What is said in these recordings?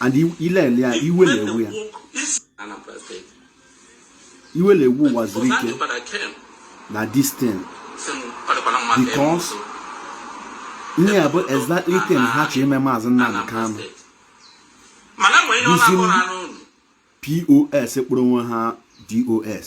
and ile ele ya iwe na-ewu ya iwe na-ewu Uwazurike na this thing because ihe ya bụ exactly thing ha chọ ime maazị Nnamdi Kanu those POS kpọrọ onwe ha DOS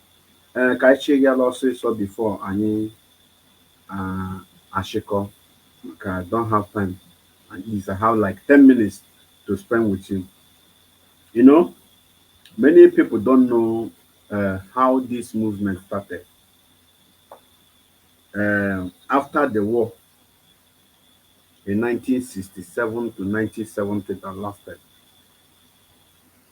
ee ka anyị chigala ọsịsọ bifo anyị achịkọ maka I don't have time and is I have like 10 minutes to spend with you. You know, many people don't know uh, how this movement started. Uh, after the war in 1967 to 1970 that lasted,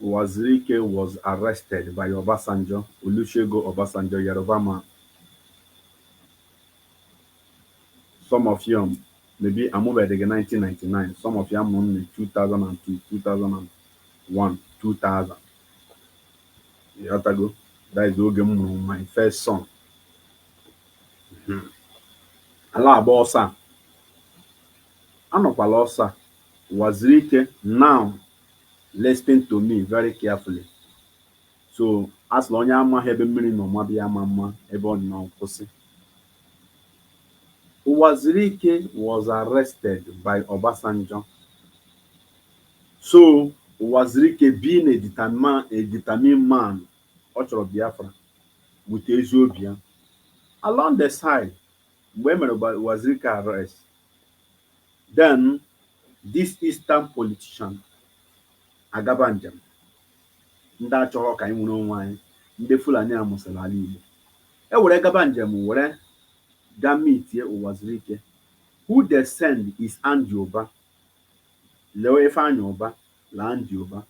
Uwazirike was arrested by Obasanjo, Olusegun Obasanjo Yoruba man, some of you maybe amụbeghị 1999, some of you a mụrụ na 2002, 2001, 2000. Ịghọtago? That is oge m mụrụ my first son. A la-agba ọsọ. A nọkwa l'ọsọ. Uwazirike now Listen to me very carefully. So a sịla onye amaghị ebe mmiri nọ maba ya amama ebe ọ nọ kwụsị. Uwazirike was arrested by Obasanjo. So Uwazirike being a determined man, ọ chọrọ Biafra with ezi obi ya. Along the side, mgbe e mere Uwazirike arrest, Then this eastern politician agaba njem, ndị achọrọ ka anyị nwere onwe anyị, ndị Fulani amụsịla ala Igbo, e were gaba njem were ga meetie Uwazurike who they send is Andy Uba, Leo Ifeanyi Uba la Andy Uba.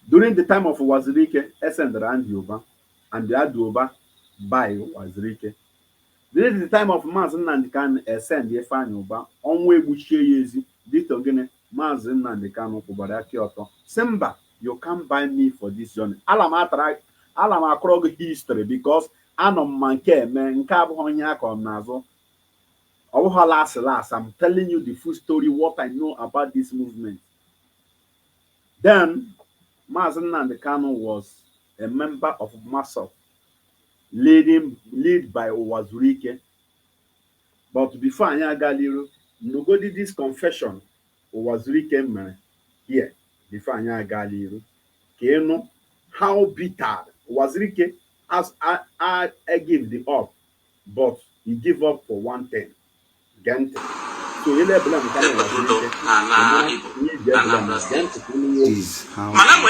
During the time of Uwazurike, e sendịrị Andy Uba and Andy Uba buy Uwazurike. During the time of Mazi Nnamdi Kanu e send Ifeanyi Uba, ọnwụ egbuchie ya ezi, due to gịnị? Mazi Nnamdi Kanu kwụbara aka ọtọ sị mba, you can't buy me for this journey. Ala m akọrọ gị history because anọ m ma nke eme nke abụghị ihe a kọrọ m n'azụ ọ bụghị last last I'm telling you the full story what I know about this movement then Mazi Nnamdi Kanu was a member of MASSOB led by Uwazurike but before anyị aga l'iru nụgodi this confession Uwazurike mere here before anyị aga l'iru ka ị nụ how bitter Uwazurike as I, I, I give the up but he give up for one thing gee ntị so ile ebula nke na Uwazurike ị mara ihe iji ebula mere gee ntị ka ị nụ ihe o kwuru. This is how Mana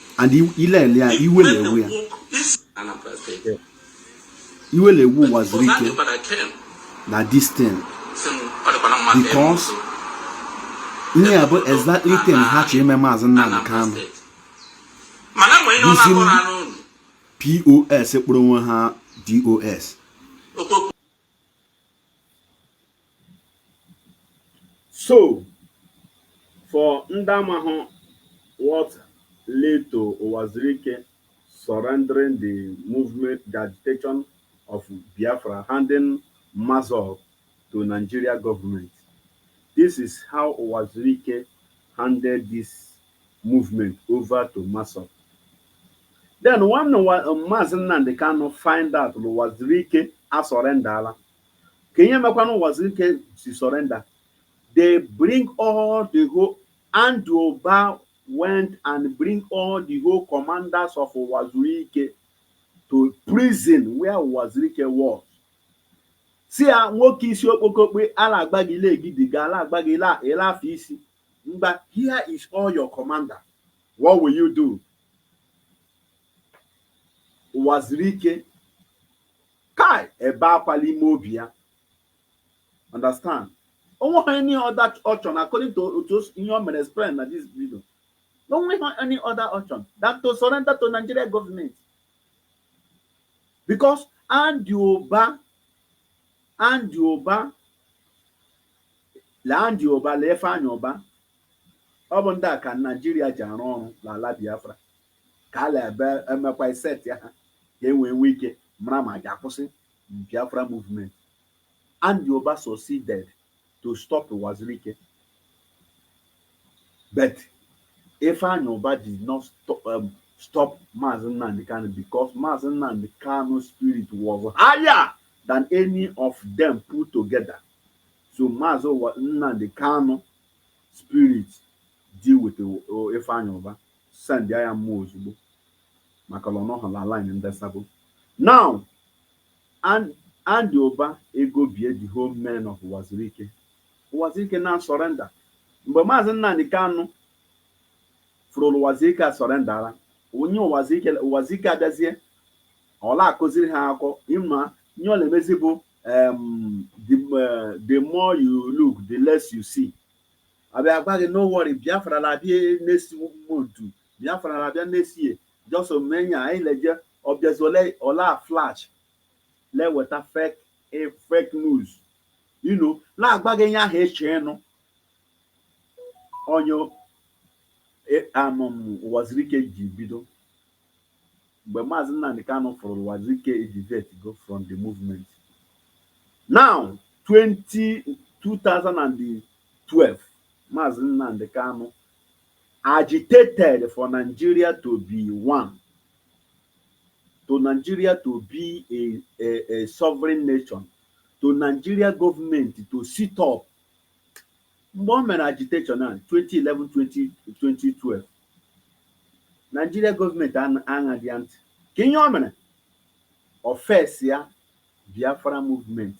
and ilele ya iwe na-ewu ya iwe na-ewu Uwazuruike na this thing because ihe ya bụ exactly thing ha chọ ime maazị Nnamdi Kanu isi POS kpọrọ onwe ha DOS So for ndị amahụ what led to Uwazuruike surrendering the movement, the agitation of Biafra, handing Mazor to Nigeria government. This is how Uwazuruike handed this movement over to Masop. Then one Mazi Nnamdi Kanu find out na Uwazuruike asurrendala kee ihe mekwanụ Uwazuruike si surrender they bring all the whole Andy Uba went and bring all the whole commanders of Uwazuruike to prison where Uwazuruike was sị ya nwoke isi okpokokpe ala agba gị ile egidiga ala agba gị ile ile afọ isi mgba here is all your commander what will you do Uwazuruike kai ebe akwa n'ime obi ya understand onweghị any other option according to otu ihe o mere explain na this video onweghị any other option than to surrender to Nigeria government because Andy Uba Andy Uba na Andy Uba na Ifeanyi Uba ọ bụ ndị a ka Naijiria ji arụ ọrụ n'ala Biafra ka a na-ebe emekwa isetị ha ka e wee nwee ike mara ma a ga-akwụsị Biafra movement. Andy Uba succeeded to stop Uwazuruike but Ifeanyi Uba did not stop, um, stop Mazi Nnamdi Kanu because Mazi Nnamdi Kanu spirit was higher than any of them put together. So Mazi Nnamdi Kanu spirit deal with Ifeanyi Uba. Sendịa ya mmụọ ozugbo maka na ọ nọghị na line ndị sabo. Now, and Andy Uba egobie the whole men of Uwazuruike. Uwazuruike now surrender. Mgbe Maazị Nnamdi Kanu fụrụ na Uwazuruike a surrenderla, onye Uwazuruike adazie ọ na-akọziri ha akụkọ ịma ihe ọ na-emezi bụ um, the, uh, the more you look the less you see abịa agwa gị no worry Biafra na-abịa next month Biafra na-abịa next year just omenya anyị leje ọ bịazie ole ọ na-flash na-eweta fake eh, fake news you know na-agwa gị ihe ahụ ị chọ ịnụ onye eh, amụm Uwazuruike ji bido mgbe Maazị Nnamdi Kanu fụrụ na Uwazuruike e divertgo from the movement. Now 20 2012 Maazị Nnamdi Kanu agitated for Nigeria to be one to Nigeria to be a, a, a sovereign nation to Nigeria government to sit up Mgbe o mere agitation ahụ 2011-2012, Nigeria gọọmenti aṅaghị ya ntị. Ka ihe o mere, ọ face ya Biafra movement.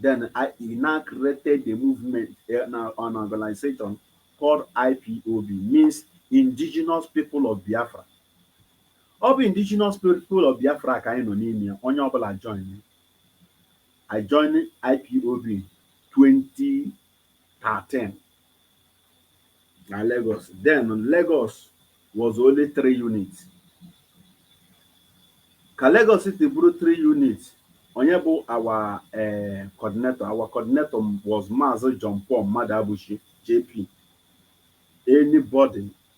Then he now created a movement, an organization called IPOB, means Indigenous People of Biafra. Ọ bụ Indigenous People of Biafra ka anyị nọ n'ime ya, onye ọbụla join. I join IPOB 2013 na Lagos. Then Lagos was only three units. Ka Lagos still bụrụ three units, onye bụ our eh, coordinator our coordinator was Maazị John Paul Mmadụabụchi JP. Anybody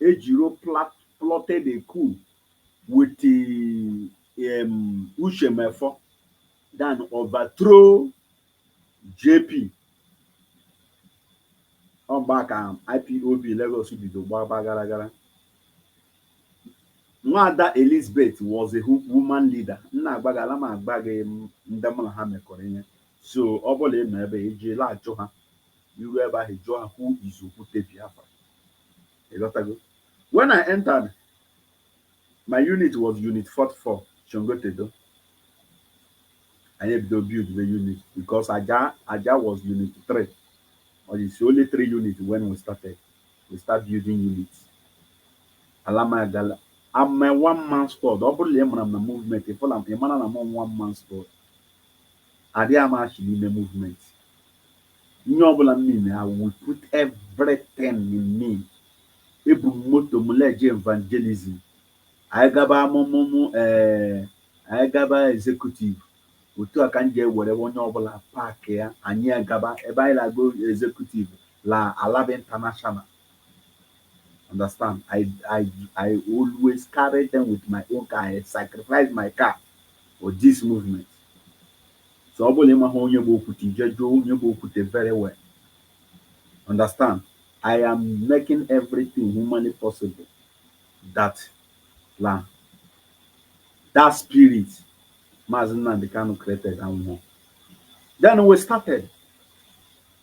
Ejiro plat plotted a coup with um, Uche Mefor then overthrow JP. Ọ mgbe a ka IPOB Lagos bido gbaba gara gara. Nwaada Elizabeth was a hu- woman leader. M na-agwa gị, ala m agwa gị m- ndị mụ na ha mekọrọ ihe. So ọ bụla ị nọ ebe e ji la-ajụ ha. I ruo ebe ahụ, ị jụọ ha, Who is Okwute Biafra? Ị ghọtago? When I entered, my unit was unit 44, Sangotedo. Anyị ebido build the unit because Ajah, Ajah was unit 3. Or it's only three units when we started. We start building units. Ala m agwa la I'm a one man squad. Ọ bụrụ na ị mara m na movement, ị fụla m, ị mara na m one man squad. Adịghị m achị n'ime movement. Ihe ọbụla m na-eme, I will put everything in me. Ebu m moto m la-eje evangelism. Anyị gaba amụmụmụ ee, anyị gaba executive. Otu a ka m ji ewere onye ọbụla paakị ya, anyị agaba. Ebe anyị la-aga executive la Alaba International. understand i i i always carry them with my own car i sacrifice my car for this movement so ọ bụla ịmaghị onye bụ okwute i jee jụọ onye bụ okwute very well understand i am making everything humanly possible that la that spirit Mazi Nnamdi Kanu created anwụghị then we started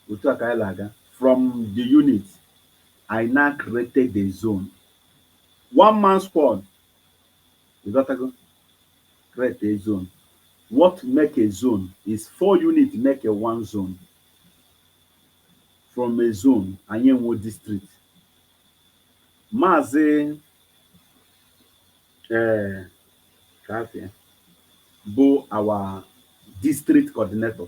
Otu a ka anyị la-aga. From the unit, I now created a zone. One man squad. Ị ghọtago? Create a zone. What make a zone is four units make a one zone. From a zone, anyị enwee district. Maazị ee Kafia bụ our district coordinator.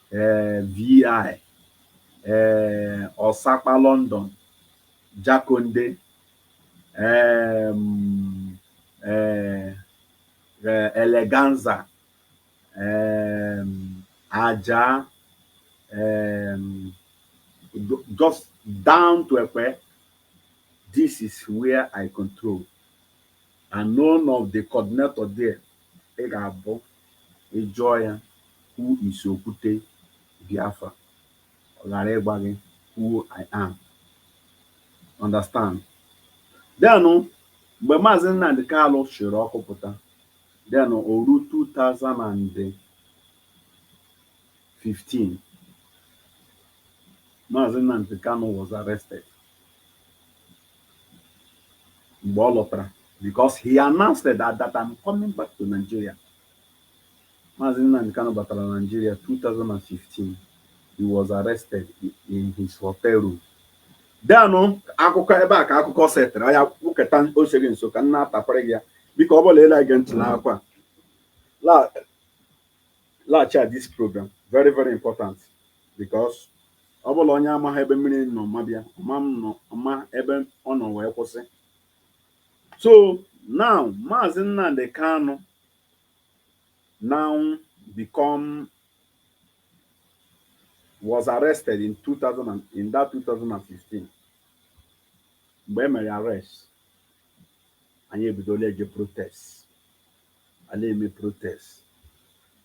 um VI um Osakpa London Jakande um um Eleganza um Ajah um just down to Ekpe, this is where I control and none of the coordinator there ị ga-abụ Ị jụọ ya, Who is Okwute Biafra? ọ ghara ịgwa gị who I am. Understand? Then mgbe Maazị Nnamdi Kanu chịrị ọkụ pụta, then o ruo 2015, Maazị Nnamdi Kanu was arrested. mgbe ọ lọtara because he announced that, that I'm coming back to Nigeria. Mazi Nnamdi Kanu batara Nigeria 2015. He was arrested in his hotel room. Then akụkọ ebe a ka akụkọ setịrị ya kwuketa oseghị nso ka m na-atapịara gị ya biko ọ bụ la ị la-ege ntị nakwa la laghachi at this program very very important because ọ bụ la onye amaghị ebe mmiri nọ maba ya ọ ma ama ebe ọ nọ wee kwụsị so now maazị Nnamdi Kanu now become was arrested in 2000 in that 2015 mgbe e mere arrest anyị ebido la-eje protest a la-eme protest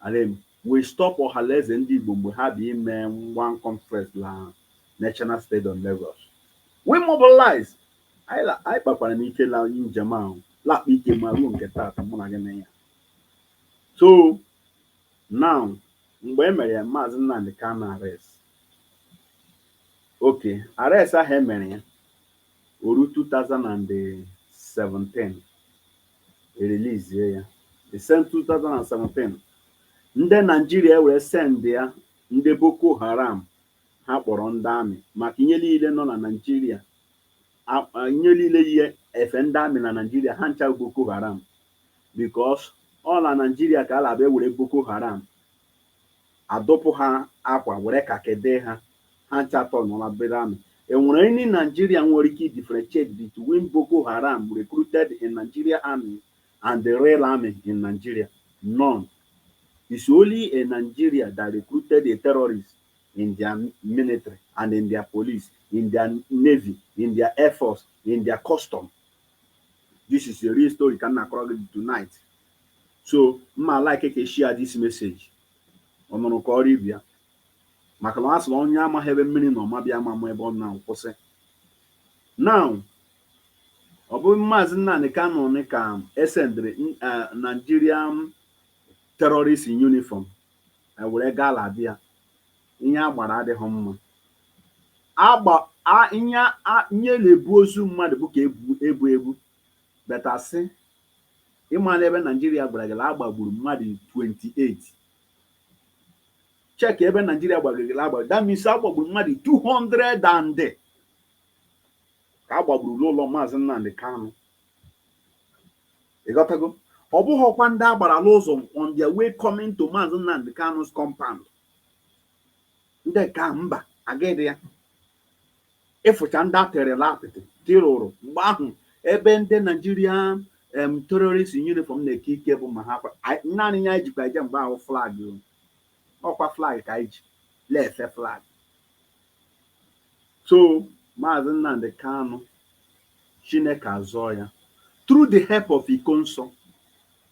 a la-eme we stop Ọhalaeze ndị Igbo mgbe ha bịa ime one conference la National Stadium Lagos we mobilize anyị kpakwaranụ ike la njem ahụ la-akpa ike ma ruo nke taata mụ na gị nọ ya so now mgbe e mere ya maazị Nnamdi Kanu arrest okay arrest ahụ e mere ya O ruo two thousand and seventeen, e release ya. The same two thousand and seventeen, ndị Naijiria ewere sendia ndị Boko Haram ha kpọrọ ndị amị maka ihe niile nọ na Naijiria ihe niile yi efe ndị amị na Naijiria ha ncha Boko Haram because ọ na Naijiria ka a la-abịa were Boko Haram a dụpụ ha akwa were kakị dee ha, ha ncha atọnụọla bụrụ amị. E nwere any Nigerian nwere ike idifferentiate between Boko Haram recruited in Nigeria army and the real army in Nigeria? None. It's only a Nigeria that recruited a terrorist in their military and in their police, in their navy, in their air force, in their custom. This is a real story ka m na-akọrọ gị tonight. so m ma-alike ka e shia this message ọ nụrụ kọọrọ ibe ya maka na a sịrị onye amaghị ebe mmiri nọ maba ya ama ma ebe ọ nọ kwụsị now ọ bụ maazị Nnamdi Kanu ni ka e sendịrị eh, Nigeria terrorist in uniform eh, were gaa la be ya ihe a gbara adịghị mma agba ihe na-ebu ozu mmadụ bụ ka ebu ebu but asị ị ma n'ebe Naijiria gwara gị na agbagburu mmadụ 28 check ebe Naijiria gwara gị na agbagburu that means agbagburu mmadụ 200 and ka agbagburu n'ụlọ maazị Nnamdi Kanu ịghọtago ọ bụghịkwa ndị agbara n'ụzọ on their way coming to maazị Nnamdi Kanu's compound ndị ka mba agaghịdị ya ịfụcha ndị a terela apịtị tirụrụ mgbe ahụ ebe ndị Naijiria em terrorist uniform na-eke ike bụ ma ha fa- anyị- naanị ihe anyị jikwa eje mgbe ahụ flag o. ọkwa flag ka anyị ji na-efe flag so maazị Nnamdi Kanu Chineke azọọ ya through the help of Ikonso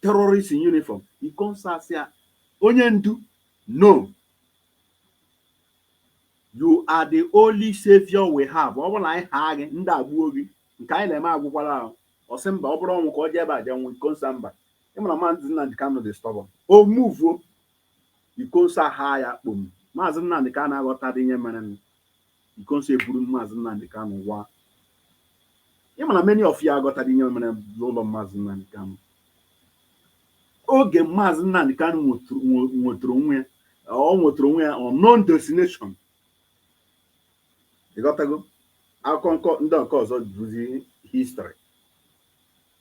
terrorist in uniform Ikonso asị ya onye ndu no you are the only savior we have ọ bụrụ na anyị haa gị ndị a egbuo gị nke anyị na-eme agwụkwala ahụ ọ sị mba ọ bụrụ ọnwụ ka ọ jee ebe a jee nwụọ Ikonso asị mba ị mara maazị Nnamdi Kanu dị stubborn o muvuo Ikonso ahaa ya kpom maazị Nnamdi Kanu aghọtadị ihe mere Ikonso eburu Maazị Nnamdi Kanu waa. Ị ma na many of you aghọtadị ihe mere n'ụlọ Maazị Nnamdi Kanu. Oge Maazị Nnamdi Kanu nwetụrụ onwe ya, ọ nwetụrụ onwe ya unknown destination. Ị ghọtago? Akụkọ ndị nke ọzọ bụzi history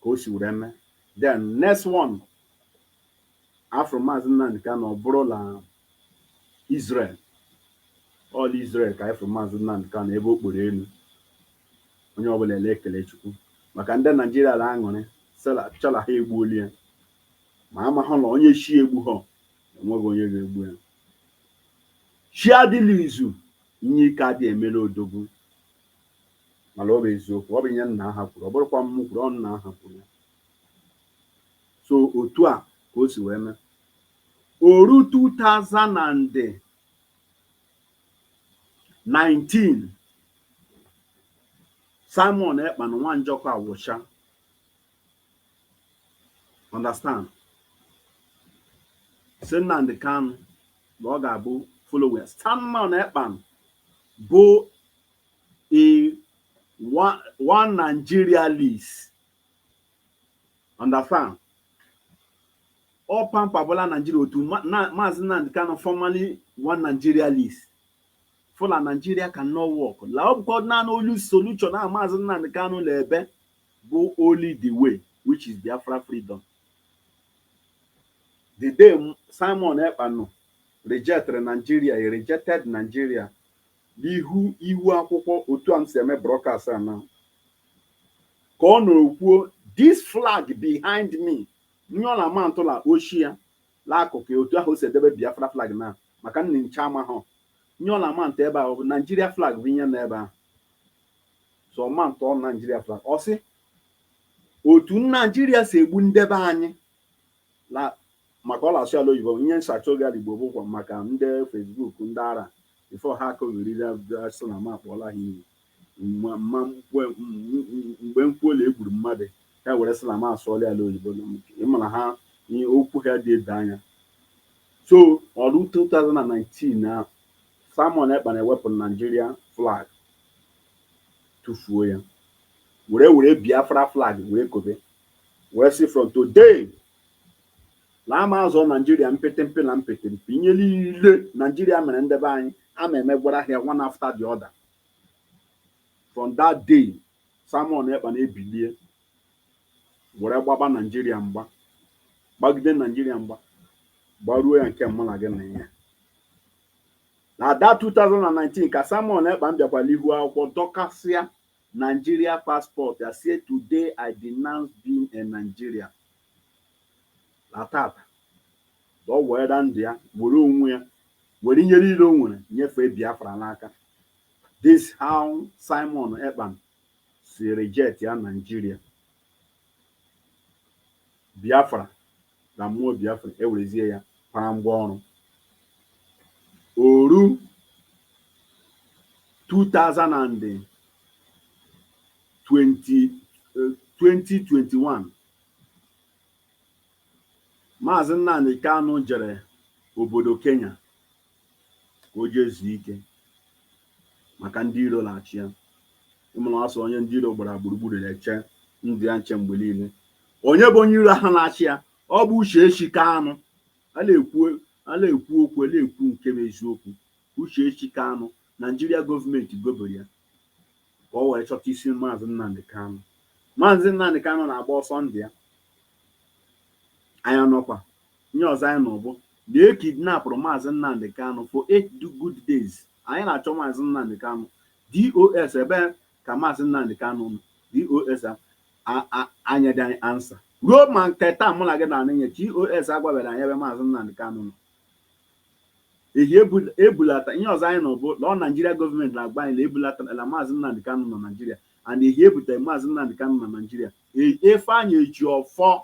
ka o si were mee. Then next one a fụrụ Maazị Nnamdi Kanu ọ bụrụ la Israel ọ la Israel ka a fụrụ Maazị Nnamdi Kanu ebe o kporo elu onye ọbụla ele ekele Chukwu maka ndị Naijiria la-aṅụrịcha la ha egbuola ya ma amahụ la onye chi egbuhọ enweghị onye ga-egbu ya chi adị la izu inye ike adị emela odogwu mana ọ bụ eziokwu ọ bụ ihe nna ha kwuru ọ bụrọkwa m kwuru ọ nna ha kwuru ya so otu a ka o si wee mee o ruo 2019 Simon Ekpa nwa Njọkụ awụcha understand sị Nnamdi Kanu na ọ ga-abụ follower Simon Ekpa bụ one Nigerianist Understand? Ọ pampabula Nigeria otu Ma- Na- Maazị Nnamdi Kanu formerly one Nigerianist. Fụ la Nigeria cannot work. La ọ bụkwa naanị only solution a Maazị Nnamdi Kanu na-ebe bụ only the way which is Biafra freedom. The day M- Simon Ekpa nọ rejectịrị Nigeria, he rejected Nigeria N'ihu ihu akwụkwọ otu a m si eme broadcast a na ka ọ nọ kwuo this flag behind me ihe ọ na-ama ntụ la oshi ya la akụkụ ya otu ahụ o si edebe Biafra flag na maka unu ncha amahọ ihe ọ na-ama ntụ ebe ahụ bụ Nigeria flag bụ ihe nọ ebe ahụ so ọ ma ntụ ọ Nigeria flag ọ sị otu Naijiria si egbu ndị be anyị na maka ọ na-asụ ya la oyibo ihe nsacha oge la Igbo bụkwa maka ndị Facebook ndị ara before ha akọọ were sị na m akpọọla ha iyi mgbe m kwuru egburu mmadụ ha were sị na m asụọla ya la oyibo ị ma na ha ihe okwu ha dị ede anya so o ruo 2019 na Simon Ekpa na-ewepụ Nigeria flag tụfuo ya were were Biafra flag were kobe wee sị from today la a ma azọ naijiria mpịtịmpị na mpịtịmpị ihe niile naijiria mere ndị be anyị a ma emegwara ha one after the other from that day Simon Ekpa na-ebilie were gbaba naijiria mgba gbagide naijiria mgba gbaruo ya nke mụ na gị na ya na that 2019 ka Simon Ekpa bịakwara ihu akwụkwọ dọkasịa Nigeria passport ya sị today I denounce being a Nigerian na tata ka ọ were ndụ ya were onwe ya were ihe niile o nwere nyefee Biafra n'aka this how Simon Ekpa si reject ya Nigeria Biafra na mmụọ Biafra ewerezie ya para ngwa ọrụ o ruo 2020 2021 Maazị Nnamdi Kanu jere obodo Kenya ka o jee zuo ike maka ndị iro na-achụ ya ị ma na a sị onye ndị iro gbara gburugburu na-eche ndụ ya nche mgbe niile onye bụ onye iro ahụ na-achụ ya ọ bụ Uchechi Kanu ọkwa a na-ekwu okwu a na-ekwu nke bụ eziokwu Uchechi Kanu naijiria gọọmenti gobere ya ka ọ wee chọta isi Maazị Nnamdi Kanu Maazị Nnamdi Kanu na-agba ọsọ ndụ ya anya nọkwa Ihe ọzọ anyị nụrụ bụ na e kidnapụrụ Maazị Nnamdi Kanu for eight good days. Anyị na-achọ Maazị Nnamdi Kanu. DOS ebee ka Maazị Nnamdi Kanu nọ? DOS anyeghị anyị ansa. Ruo ma nke taa mụ na gị na-anụ ihe, DOS agwabeghị anyị ebe Maazị Nnamdi Kanu nọ. Ehi e bulata ihe ọzọ anyị nụrụ bụ na ọ Naijiria gọọmenti na-agwa anyị na e bulatala Maazị Nnamdi Kanu na Naijiria and ehi e butere Maazị Nnamdi Kanu na Naijiria. Ifeanyi Ejiofor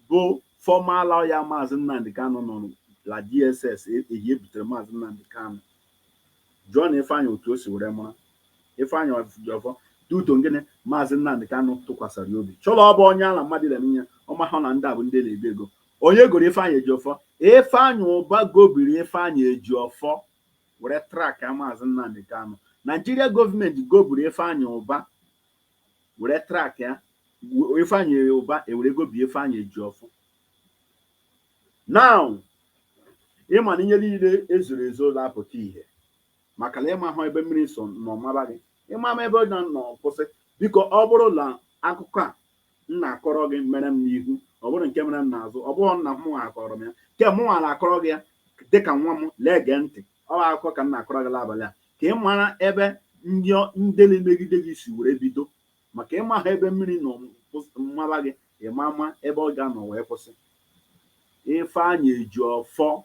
bụ former lawyer Maazị Nnamdi Kanu nọ la DSS ehi e butere Maazị Nnamdi Kanu jụọ na Ifeanyị otu o si were mara Ifeanyị Ejiofor due to ngịnị Maazị Nnamdi Kanu tụkwasịrị ya obi chọrọ ọ bụ onye ala mmadụ ile n'ihe ọ mahụ na ndị a bụ ndị na-ego ego onye goro Ifeanyị Ejiofor Ifeanyị Ụba gobiri Ifeanyị Ejiofor were track Maazị Nnamdi Kanu Nigeria government gobiri Ifeanyị Ụba were track ya Ifeanyi Ụba ewere gobi Ifeanyi Ejiofor now ị ma na ihe niile e zoro ezo la-apụta ihe maka na ị mahụ ebe mmiri so nọ maba gị ịma ama ebe ọ ga-anọ kwụsị biko ọ bụrụ na akụkọ a m na-akọrọ gị mere m n'ihu ọ bụrụ nke mere m n'azụ ọ bụrụ nna m akọrọ m ya nke mụnwa na-akọrọ gị ya dịka nwa m lee gee ntị Ọ bụ akụkọ ka m na-akọrọ gị n'abalị a ka ị mara ebe ndị ọ- ndị na-emegide gị si were bido maka ị maha ebe mmiri nọ kwụs- maba gị ịma ama ebe ọ ga-anọ wee kwụsị Ifeanyị Ejiofor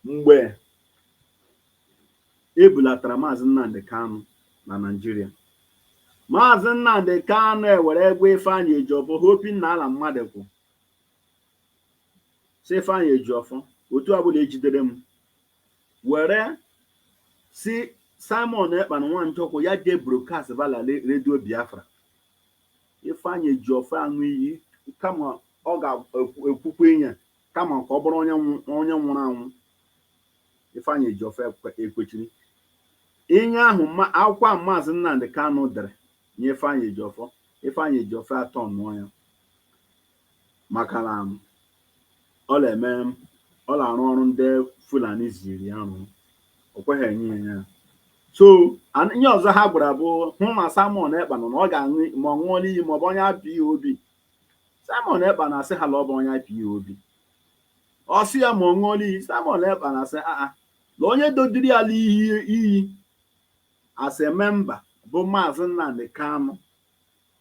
mgbe e bulatara maazị Nnamdi Kanu na Naịjirịa maazị Nnamdi Kanu ewere gwa Ifeanyị Ejiofor hoping na ya la mmadụ kwụ sị Ifeanyị Ejiọfọ otu ọbụla e jidere m were sị Simon Ekpa na Nwachukwu ya jee broadcast ba la redio Biafra Ifeanyị Ejiọfọ aṅụọ iyi kama ọ ga-ekwukwa inye kama ka ọ bụrụ onye nwụrụ anwụ Ifeanyị Ejiọfọ ekwechiri inye ahụ akwụkwọ ahụ maazị Nnamdị Kanụ dere nye Ifeanyị Ejiọfọ Ifeanyị Ejiọfọ atọ nụọ ya maka na ọ na-eme ọ na-arụ ọrụ ndị Fulani ziri ya rụọ o kweghị enye ya ya so an- ihe ọzọ ha gwara bụ hụ ma Simon Ekpa nọ na ọ ga-aṅụ ma ọ ṅụọla iyi ma ọ bụ onye IPOB Simon Ekpa na-asị ha na ọ bụ onye IPOB ọ sị ya ma ọ ṅụọla iyi Simon Ekpa na-asị aa na onye dodiri ya la iyi as a member bụ maazị Nnamdi Kanu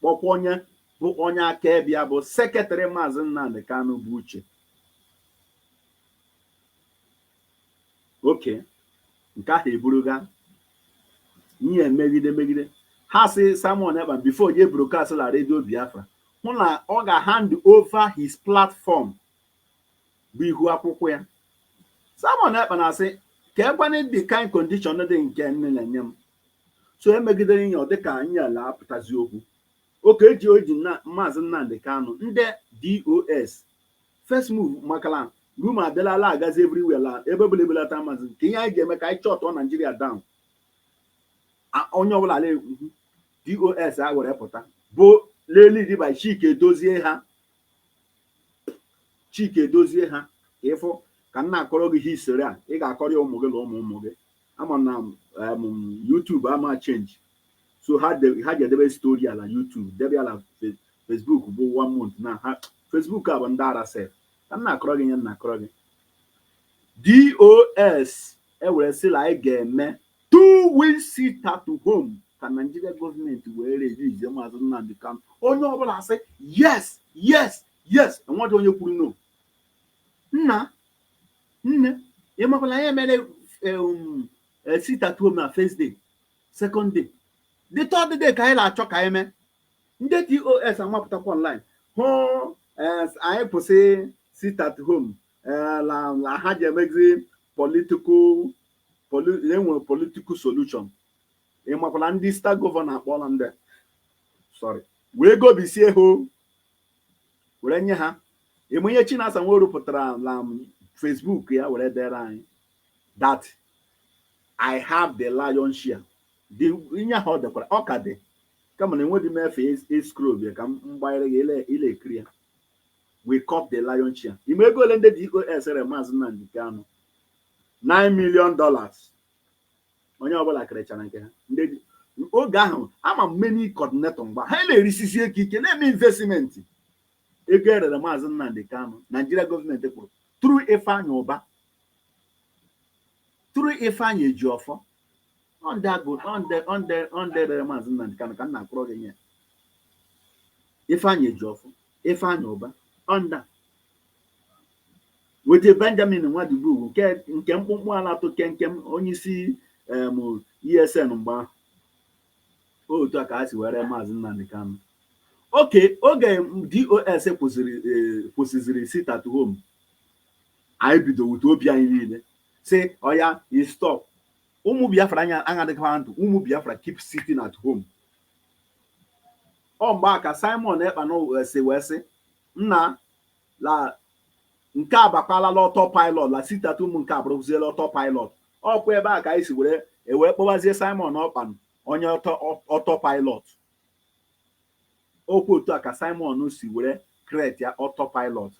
kpọkwa onye bụ onye akaebe ya bụ secretary Maazị Nnamdi Kanu bụ Uche okay nke ahụ eburuga ihe megide megide ha sị Simon Ekpa before ye broadcast la redio Biafra hụ na ọ ga-hand over his platform bụ ihu akwụkwọ ya Simon Ekpa na-asị ka lekwane the kind condition dị nke unu na-enye m so e megidere ihe ọ dịka ihe a na-apụtazi okwu oke eji oji na maazị Nnamdi Kanu ndị DOS first move maka na rumour adịla la-agazi everywhere la ebe ọbụla ebelata maazị kee ihe anyị ga-eme ka anyị shut Naijiria down A- onye ọbụla ala ekwu DOS a were pụta bụ led by Chika Edoziem ha Chika Edoziem ha ka ịfụ ka m na-akọrọ gị history a ị ga-akọrọ ya ụmụ gị na ụmụ ụmụ gị ama m na um, YouTube ama change so ha de- ha ga-edebe story ya na YouTube debe ya na Fe- Facebook bụ one month na ha Facebook a bụ ndị ara sef ka m na-akọrọ gị ihe m na-akọrọ gị DOS ewere sị na anyị ga-eme two week sit at home ka Naijiria gọọmenti wee release maazị Nnamdi Kanu onye ọbụla asị yes yes yes enweghị onye kwuru no nna nne ị makwa na ya mere um, eh, sit at home na first day second day the third day ka anyị na-achọ ka anyị mee ndị DOS amapụtakwa online hụ eh, anyị kwụsị sit at home eh, na na ha je-emezi political poli- enwere political solution ị makwara ndị state gọvanọ akpọla ndị sorry wee gobisie ha o. were nye ha emenye Chinasa Nworu pụtara na Facebook ya were dere anyị that I have the lion share dị ihe ahụ ọ dekwara ọ ka dị kama na enweghị m efe scroll bịa ka m gbanyere gị ị le-ekiri ya we cop the lion share ị ma ego ole ndị DOS rere maazị Nnamdi Kanu 9 million dollars onye ọbụla kerechara nke ha ndị ji oge ahụ ama m many coordinator mgbe ha na-erisizi ego ike na-eme investment ego erere maazị Nnamdi Kanu Naijiria gọọmenti kwụrụ through Ifeanyị Ụba through Ifeanyị Ejiọfọ ọ ndị a bụ ndị ndị ndị rere maazị Nnamdi Kanu ka m na-akpọrọ gị nye Ifeanyị Ejiọfọ Ifeanyị Ụba ọ ndị a with Benjamin Madubugwu nke nke mkpụmkpụ a la-etu kenkem onyeisi em ESN mgbe ahụ otu a ka ha si wee ree maazị Nnamdi Kanu oke oge DOS kwụsịrị e, kwụsịziri sit at home anyị bido wute obi anyị niile sị oya stop ụmụ Biafra anya aṅadịkwa ndụ ụmụ Biafra keep sitting at home ọ mgbe a ka Simon Ekpa si wee sị Nna la nke a bakwala la autopilot la sit at home nke abụrụziela autopilot. Ọ kwa ebe a ka anyị si were ewee kpọwazie Simon Ekpa onye auto autopilot. Ọ kwa otu a ka Simon si were create ya autopilot.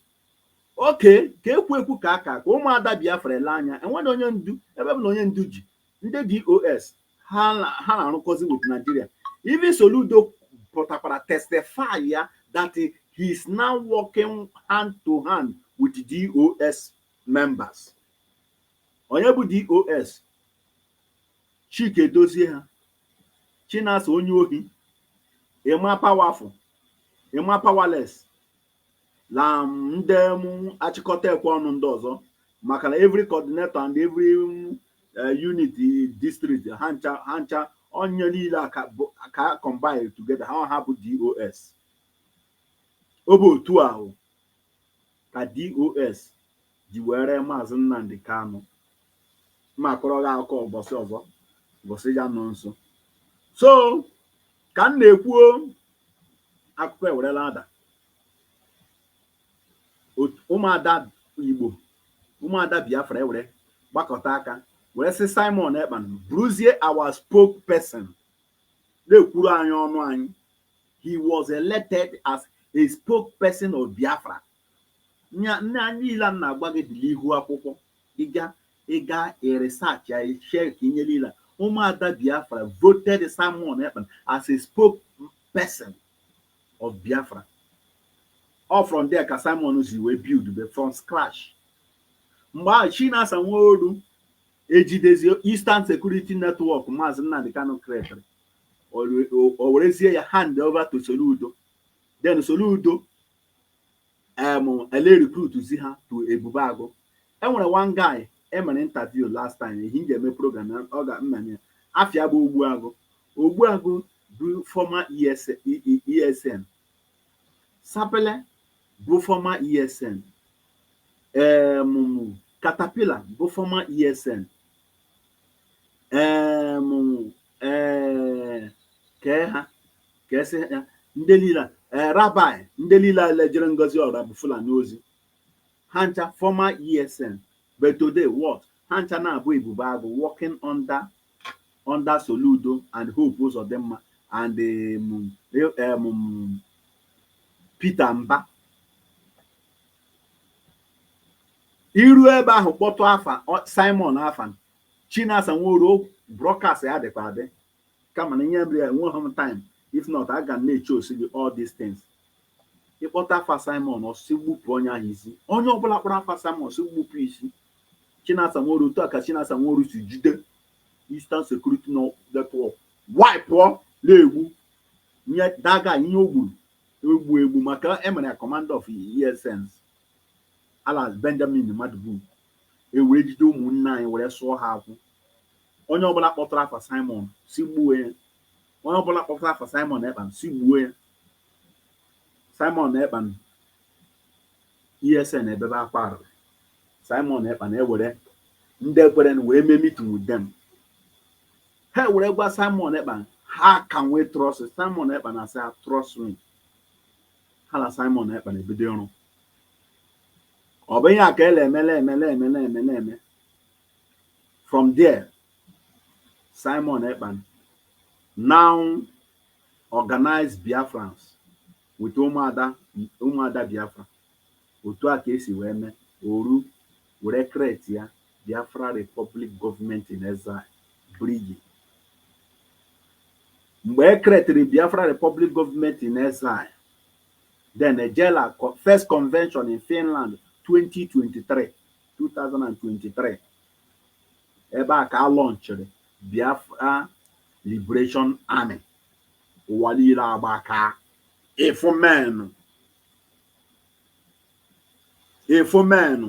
Oke ka ekwu ekwu ka aka ka ụmụada Biafra ele anya enwere onye ndu ebe bụ na onye ndu ji ndị dos ha na-arụkọzi with Nigeria even Soludo pụtakwara testify ya that he is now working hand to hand with dos members onye bụ dos Chika Edozie ha Chinasa onye ohi Emma Powerful Emma Powerless la um, ndị um, achịkọta ekwe ọnụ ndị ọzọ maka na every coordinator and every um, eh, unit district ha ncha ha ncha onye niile a ka bụ- ka ha combine together ha ha bụ dos ọ bụ otu ahụ ka dos ji wee ree Maazị Nnamdi Kanu. M akọrọ gị akụkọ ụbọchị ọzọ ụbọchị ya nọ nso so ka m na-ekwuo akụkọ ewerela ada ụmụada Igbo ụmụada Biafra ewere gbakọta aka were sị Simon Ekpa bụrụzie our spokesperson na-ekwuru anyị ọnụ anyị he was elected as a spokesperson of Biafra nya na niile a na-agwa gị dị n'ihu akwụkwọ ịga ịga research ya chekịa inye niile ụmụada Biafra voted Simon Ekpa as a spokesperson of Biafra ọ from there ka Simon si wee buildube from scratch mgbe ahụ Chinasa Nworu ejidezi Eastern Security Network Maazị Nnamdi Kanu creatịrị o werezie ya hand over to Soludo then Soludo um ele recruitzi ha to Ebube Agụ e nwere one guy e mere interview last time ehi m ga-eme program ya unu ga-ama ya afa ya bụ Ogbu Agụ Ogbu Agụ bụ former ESN Sapele bụ former ESN um Caterpillar bụ former ESN eem ee kee ha ka esị ya ndị niile ee Rabbi ndị niile a la-ejere Ngozi Ọrabụfulani ozi ha ncha former esn but today what ha ncha na-abụ ebube agụ working under under soludo and hope ụzọdịmma and um, um, peter mba i ru ebe ahụ kpọtụ afa Simon Afan Chinasa Nworu broadcast ya dịkwa adị kama na ihe mere ya enweghị m time if not aga m na-eshowsi gị all these things i kpọta afa Simon ọ sị gbupụ onye ahụ isi onye ọbụla kpọrọ afa Simon ọ sị gbupụ isi Chinasa Nworu otu a ka Chinasa Nworu si jide Eastern Security Network wipụọ na-egbu nye daga ihe o gburu egbu egbu maka emere ya commander of ESNs Ala Benjamin Madubugwu, e wee jide ụmụnne anyị were sụọ ha akwụ. Onye ọbụla kpọtụrụ afa Simon, si gbuo ya. Onye ọbụla kpọtụrụ afa Simon Ekpa, si gbuo ya. Simon Ekpa ESN ebebe akwa. Simon Ekpa ewere ndị ekwerenụ wee mee meeting with them. Ha were gwa Simon Ekpa how can we trust. Simon Ekpa asị ha trust me. ha la Simon Ekpa ebido ọrụ ọ bụ ihe a ka ele eme na-eme na-eme na-eme na-eme from there Simon Ekpa now organize Biafrans with ụmụada ụmụada Biafra otu a ka e si wee mee ọrụ were create ya Biafra Republic Government in Exile, BRGIE. Mgbe e kretịrị Biafra Republic Government in Exile, then ejela first convention in Finland 2023 2023 ebe a ka a lọnchịrị Biafra Liberation Army ụwa niile agbaka ịfụ menụ ịfụ menụ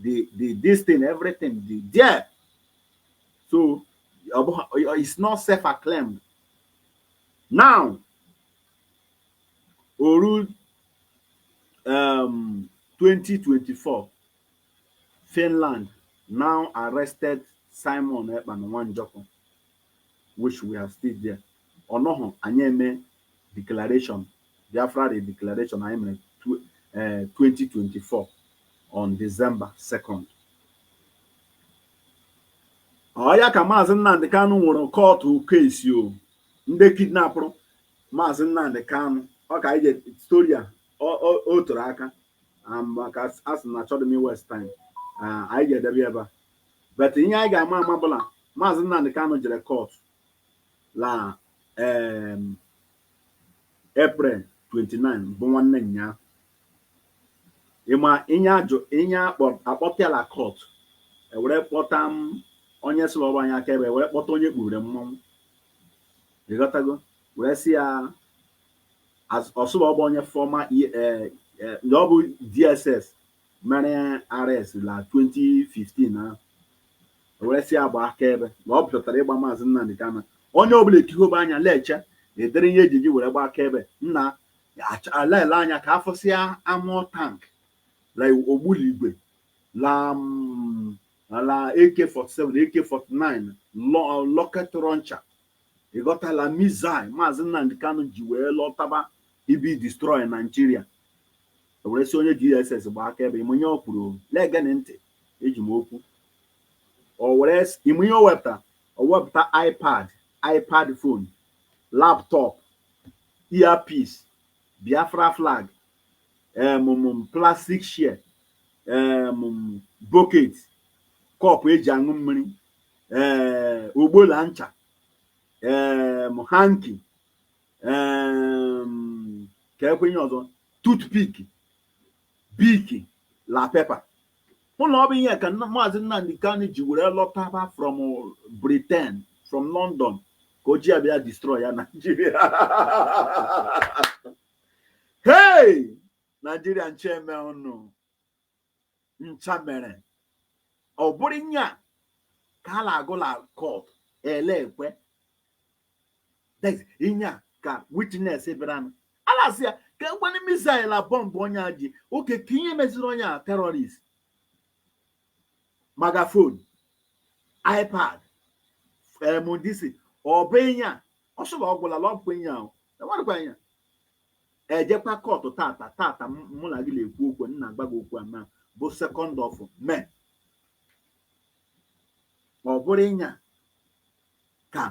the the this thing everything the there so it's not self acclaimed now oru um, 2024 finland now arrested simon ekpa nwanjoko which we have still there. Ọ nọhụ, anyị eme declaration, Biafra redeclaration anyị mere tw- eh, 2024 on December 2nd. Ọ ya ka Maazị Nnamdị Kanụ nwere court case o ndị kidnapụrụ Maazị Nnamdị Kanụ ọ ka anyị je story a ọ- ọ- o toro aka Ah, maka a sị na achọghị m iwaste time Ah, anyị ga-edebe ebe a But ihe anyị ga-ama ama bụ la Maazị Nnamdi Kanu jere court la um, April 29 bụ nwanne nyaa ịma ihe ihe akpọpịala court ewere kpọta onye sịrị ọrụ anyị akaebe ewere kpọta onye kpuru mmọnwụ ịghọtago wee sị ya ọ sị ọ bụ ọ bụ onye former ndị ọ bụ DSS mere arrest la 2015 ahụ were sị ya gba akaebe na ọ pụtara ịgba maazị Nnamdi Kanu onye ọbụla ekihobe anya leche ụdịrị ihe ejiji were gba akaebe nna alele anya ka a fụsịa armoured tank la ogbuligwe la mm, la AK47 AK49 rocket launcher ịghọtala missile maazị Nnamdi Kanu ji wee lọtaba ịbịa destroy Nigeria E were sị onye DSS gbaa akaebe ịmụ ihe o kwuru o. Na-egenụ ntị eji m okwu. O were sị ịmụ ihe o wepụtara o wepụta iPad, iPad phone, laptop, earpiece, Biafra flag, em, m, m, plastic chair, em, m, bucket, cup eji aṅụ mmiri, ee, ogbo la ncha, em, hanky, kekwe ihe ọzọ toothpick Bic la paper hụ na ọ bụ ihe ka maazị Nnamdi Kanu ji were lọtaba from Britain from London ka o ji ya bịa destroy ya Naijiria hey Naijiria nche eme ọnụ ncha mere ọ bụrụ inye a ka a na-agụ la court ele ekwe inye a ka witness bịaranụ a na-asị ya kekwene missile a bomb onye a ji oke ka ihe meziri onye a terrorist megaphone iPad emdc ọ bụ inye a ọ sị la ọ gwụla la ọ bụkwa inye ahụ e nwerekwa inye a ejekwa kọtụ tata tata mụ na gị na-ekwu okwu m na-agwa gị okwu ama bụ second of May ọ bụrụ inye a ka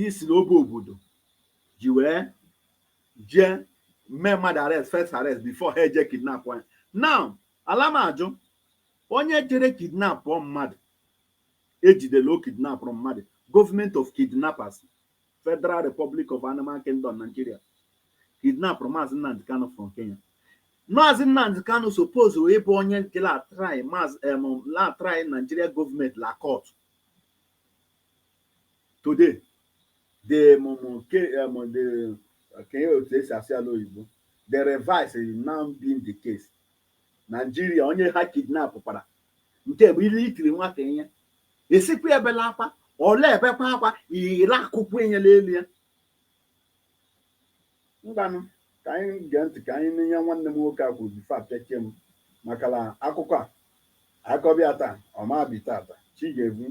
isi na obe obodo ji wee jee mee mmadụ arrest first arrest before ha eje kidnap ya now ala m ajụ onye jere kidnap mmadụ ejide la o kidnapụrụ mmadụ government of kidnappers Federal Republic of Animal Kingdom, Nigeria, kidnapụrụ Maazị Nnamdi Kanu from Kenya. Maazị Nnamdi Kanu suppose ịbụ onye nke la-try Maazị em la-try Nigeria government la court. Today, the mụmụ ke em the ka ihe otu e si asị ya la oyibo the reverse is now being the case. Naijiria onye ha kidnapụkwara nke bụ la i tiri nwata ihe esikwa ebela akwa ọ la-ebekwa akwa ire akụkwu inye la elu ya ngwanụ ka anyị gee ntị ka anyị nụ ihe nwanne m nwoke a kwuru before apịachie m maka na akụkọ a akọbịa taa ọ ma bi tata chi ga-ebu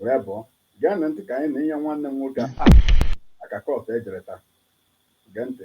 wee bọọ geenụ ntị ka anyị nụ ihe nwanne m nwoke a aka court e jere taa gee ntị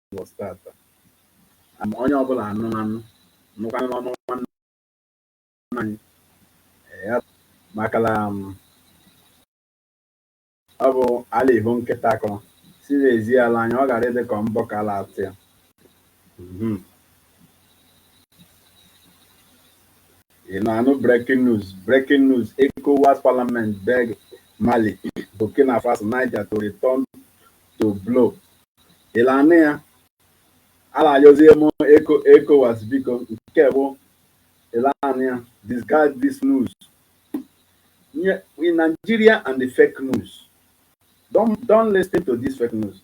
Lagos tata ma onye ọbụla anụ anụ nụkwanụ n'ọnụ nwanne anyị a maka na ọ bụ a la-ehu nkịta akọrọ si na-ezi ya la anya ọ ghara ịdị ka mbọ ka a la-atụ ya mhm. ị na-anụ breaking news breaking news ECOWAS parliament beg Mali Burkina Faso Niger to return to bloc ịla anụ ya ala ayọzie m ECOWAS biko nke bụ ịla anụ ya discard this news in Nigeria and the fake news don't don't listen to this fake news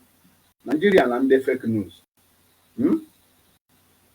Nigeria na ndị fake news hmm?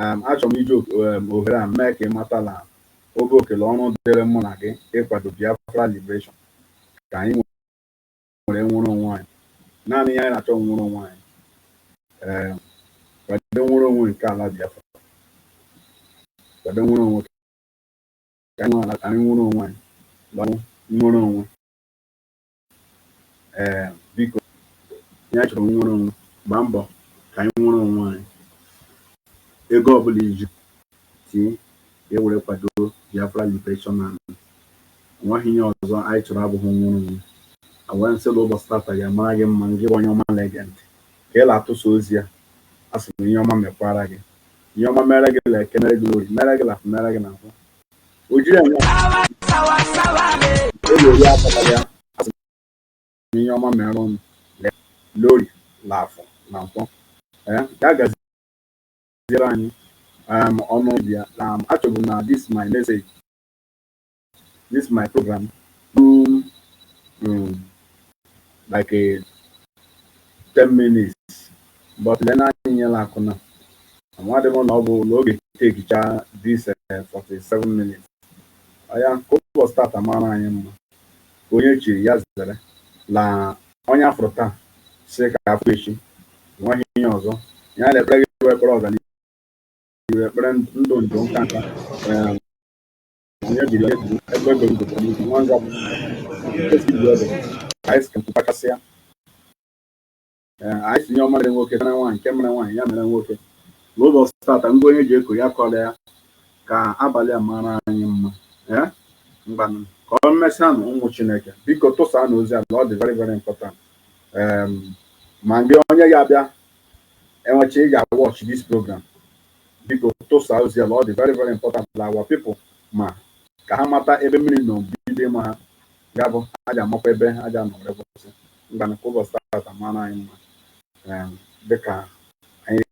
um achọrọ m iji um, ohere a mee ka ị mata na ọ bụ oke la ọrụ dịrị mụ na gị ịkwado Biafra Liberation ka anyị were nwere onwe anyị naanị ihe anyị na-achọ nnwere onwe anyị um, kwado nnwere onwe nke ala Biafra kwado nnwere onwe ka anyị nwere onwe anyị gbanwe nwere onwe ee biko ihe a chọrọ nnwere onwe gbaa mbọ ka anyị nwere onwe anyị ego ọbụla ị ji tinye e were kwado Biafra Liberation Army nwaghị ihe ọzọ anyị chọrọ abụghị nnwere onwe a wee m sị la ụbọchị tata ya mara gị mma gị bụ onye ọma na-ege ntị ka ị na-atụsa ozi a asị m ihe ọma mekwara gị ihe ọma mere gị la eke mere gị la orie mere gị la mere gị na afọ o jiri enwe oge ori akpatara ya asị m ihe ọma mere unu la orie na afọ na nkwọ ya gaziere anyị um, unu bịa na um, achọbu m na this my message this my program um, um, like a 10 minutes But lee na anyị nyela akụna. Amadị m na ọ bụ na ọ ga-etekicha this 47 eh, minutes. Ọya ka ụbọchị tata mara anyị mma. Ka onye chiri ya zere na onye a fụrụ taa sị ka a fụ echi. Enweghị ihe ọzọ. Ihe a na-ekpere gị ekpere ọganihu ekpere ndụ ndụ nka nka. Eh, onye jiri onye jiri ebe ebe ndụ bụ n'ihu nwa nzọ bụ. Esi ibu ebe. Ka anyị si kemkwu kpachasịa. ee anyị sị ihe ọma mere nwoke mere nwaanyị nke mere nwaanyị ya mere nwoke n'ụbọchị tata ngwa onye ji eko ya kọrọ ya ka abalị a mara anyị mma ee ngwanụ ka ọ mesịanụ ụmụ chineke biko tụsaanụ ozi a na ọ dị very very important um, ma mgbe onye ya abịa emechaa ị ga-watch this program biko tụsaa ozi a na ọ dị very very important na our people ma ka ha mata ebe mmiri nọ bido ma ha ya bụ a ga-amakwa ebe a ga-anọ were kwụsị ngwanụ ka ụbọchị tata mara anyị mma dịka anyị